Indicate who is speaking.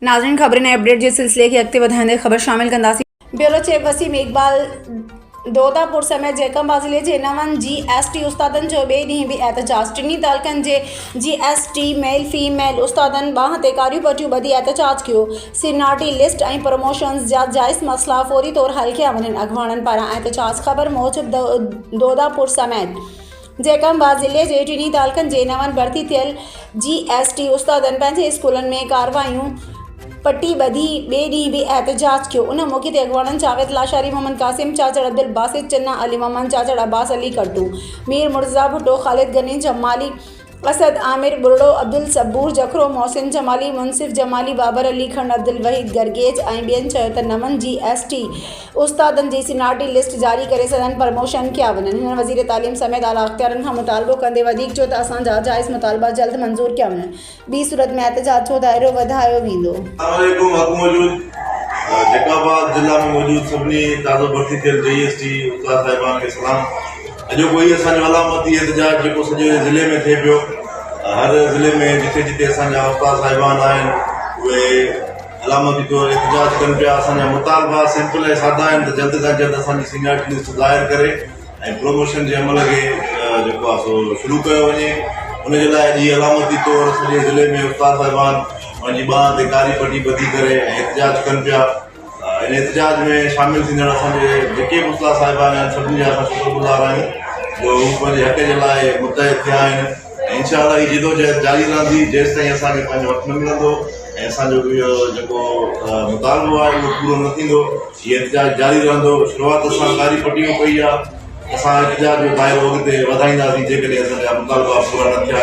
Speaker 1: ناظرين خبرن ۽ اپڊيٽ جي سلسلي کي اڳتي وڌائيندي خبر شامل ڪنداسين. بيورو چيف وسيم اقبال دودا پور سميت جيڪب ضلعي جي نون جي ايس ٽي استادن جو ٻئي ڏينهن به احتجاج ٽنهي تعلقن جي جي ايس ٽي ميل في ميل استادن ٻانهن تي ڪاريون پٽيون ٻڌي احتجاج ڪيو سينيارٽي لسٽ ۽ پروموشنز جا جائز مسئلا فوري طور حل ڪيا وڃن اڳواڻن پاران احتجاج خبر موجب دودا پور سميت جيڪب آباد ضلعي جي ٽنهي تعلقن جي نون ڀرتي ٿيل جي ايس ٽي استادن پنهنجي اسڪولن ۾ ڪارروايون پٽي ٻڌي ٻئي ڏينهن به احتجاج ڪيو ان موقعي تي اڳواڻن جاويد لاشاري محمد قاسم چاچڙ عبدالباسط چنا علي محمد چاچڙ عباس علي ڪرٽو مير مرتضيٰ ڀٽو خالد غني جمالي اسد عامر ٻرڙو عبدالصبور جکرو محسن جمالي منصف جمالي بابر علي کنڊ عبدالوحيد گرگيج ۽ ٻين چيو ته نون جي ايس ٽي استادن جي سين آر ٽي لسٽ جاري ڪري سندن پرموشن ڪيا وڃن، هن وزير تعليم سميت اعليٰ اختيارين کان مطالبو ڪندي وڌيڪ چيو ته اسان جا جائز مطالبا جلد منظور ڪيا وڃن، ٻي صورت ۾ احتجاج جو دائرو وڌايو ويندو. السلام عليڪم حق موجود
Speaker 2: جيڪب آباد ضلع ۾ موجود سڀني تازو ڀرتي ٿيل جي ايس ٽي استاد صاحبان کي سلام اڄوڪو هي اسان جو علامتي احتجاج جيڪو سڄي ضلعي ۾ ٿئي پيو هر ضلعي ۾ جتي جتي اسان جا استاد صاحبان آهن اهي علامه به پيو احتجاج ڪن پيا اسان جا مطالبا سمپل ۽ سادا آهن ته جلد کان جلد اسان جي سينيارٽي لسٽ ظاهر ڪري ۽ پروموشن جي عمل کي جيڪو آهي سو شروع ڪيو وڃي ان جي لاء اڄ علامتي طور سڄي ضلعي ۾ استاد صاحبان پنهنجي ٻانهن تي ڪاري پٽي ٻڌي ڪري ۽ احتجاج ڪن پيا ان احتجاج ۾ شامل ٿيندڙ اسان جي جيڪي به استاد صاحبان آهن سڀني جا اسان شڪر گذار آهيون جو هو پنهنجي حق جي لاء متحد ٿيا آهن انشاءالله هي جدوجهد جاري رهندي جيستائين اسان کي پنهنجو حق نه ملندو ۽ اسان جو اهو جيڪو مطالبو آهي اهو پورو نه ٿيندو هي احتجاج جاري رهندو شروعات اسان ڪاري پٽي مان ڪئي آهي اسان احتجاج جو دائرو اڳتي وڌائينداسين جيڪڏهن اسان جا مطالبا پورا نه ٿيا